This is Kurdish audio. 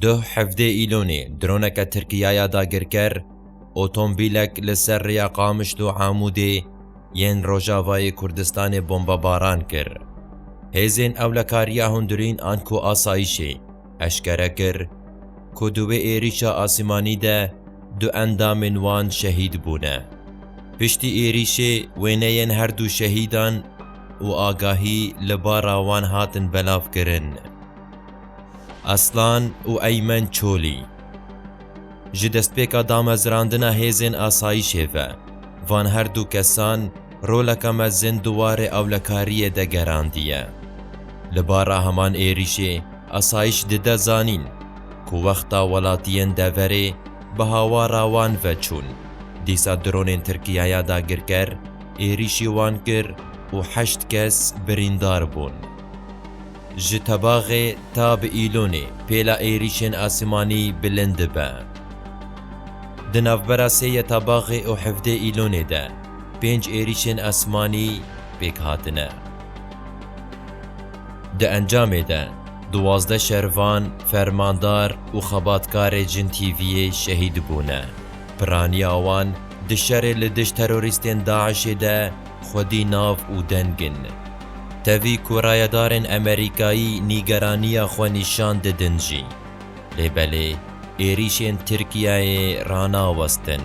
Duh hevdê Îlonê droneke Tirkiya ya dagirker otombîlek li ser rêya Qamişlo û Amûdê yên Rojavayê Kurdistanê bombebaran kir. Hêzên Ewlekariya Hundirîn an ku Asayîşê eşkere kir ku di wê êrîşa asîmanî de du endamên wan şehîd bûne. Piştî êrîşê wêneyên her du şehîdan û agahî li bara wan hatin belavkirin. Aslan û Eymen Çolî Ji destpêka damezrandina hêzên asayîşê ve, van her du kesan roleka mezin di warê ewlekariyê de gerandiye. Li bara heman êrîşê asayîş dide zanîn ku wexta welatiyên deverê bi hawara wan ve çûn, dîsa dronên Tirkiye ya dagirker êrîşî wan kir û heşt kes birîndar bûn. Ji Tebaxê ta bi Îlonê pêla êrîşên asimanî bilind dibe. Di navbera sê yê Tebaxê û hevdê Îlonê de pênc êrîşên asimanî pêk hatine. Di encamê de duwazdeh şervan, fermandar û xebatkarê Jin TV'ê şehîd bûne. Piraniya wan di şerê li dijî terorîstên DAIŞ'ê de xwedî nav û deng in. Tevî ku rayedarên Emerîkayî nîgeraniya xwe nîşan didin jî, lê belê êrîşên Tirkiyeyê ranawestin.